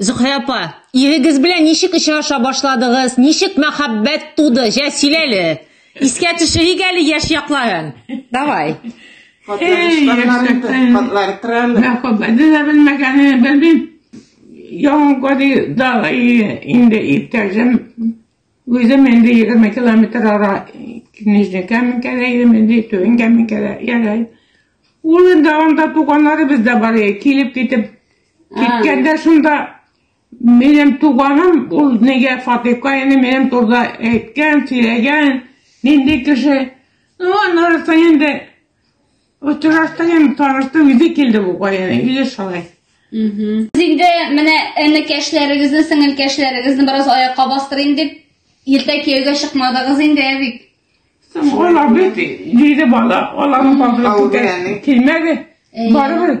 Зөһрә апа, ирегез белән ничек очраша башладыгыз, ничек мәхәббәт туды, җә сөйләле. Искә төшерик әле яшь якларын. Давай. Мәхәббәтне дә белмәгәнен белмим. Яңа гади дага инде иптәшем. Үзем инде егерме километр ара Нижний Каменкәдә идем, инде Түбән Каменкәдә яшәйм. Ул инде анда туганнарыбыз да бар, килеп китеп киткәндә шунда минем туганым, ул нигә Фатыйка инде минем турда әйткән, сөйләгән, нинди кеше. Ну, аннары инде Очраштык инде таныштык, үзе килде бу каян, үзе шулай. Инде менә энекәшләрегезне, сеңелкәшләрегезне бераз аякка бастырыйм дип, иртә кияүгә чыкмадыгыз инде, ә бит. Алар бит җиде бала, аларның бабасы килмәде. Барыбер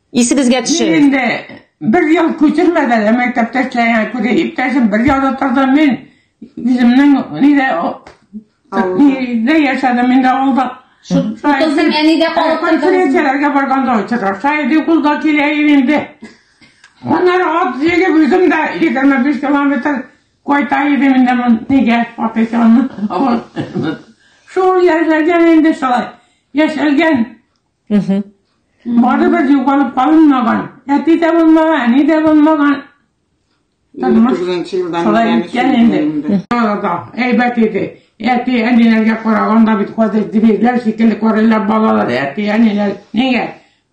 Исегезгә төшерик. Мин инде бер ел күчермәдән дә мәктәптә эшләгән күрә иптәшем бер ел утырды, мин үземнең нидә нидә яшәдем мин дә авылда. Шутызның әнидә калып конференцияләргә барганда очраша иде, ул да килә инде. Аннары ат җигеп үзем дә 25 километр кайта идем инде мин нигә патышымны. Шул яшәгән инде шулай. Яшәгән. Барыбер югалып калынмаган. Әти дә булмаган, әни дә булмаган. Шулай үткән инде. Әйбәт иде. Әти әниләргә караганда бит хәзер дибегләр шикелле карыйлар балалар, әти әниләр. Нигә?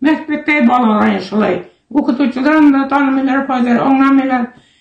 Мәктәптә балалар шулай. Укытучыларны да танымыйлар хәзер, аңламыйлар.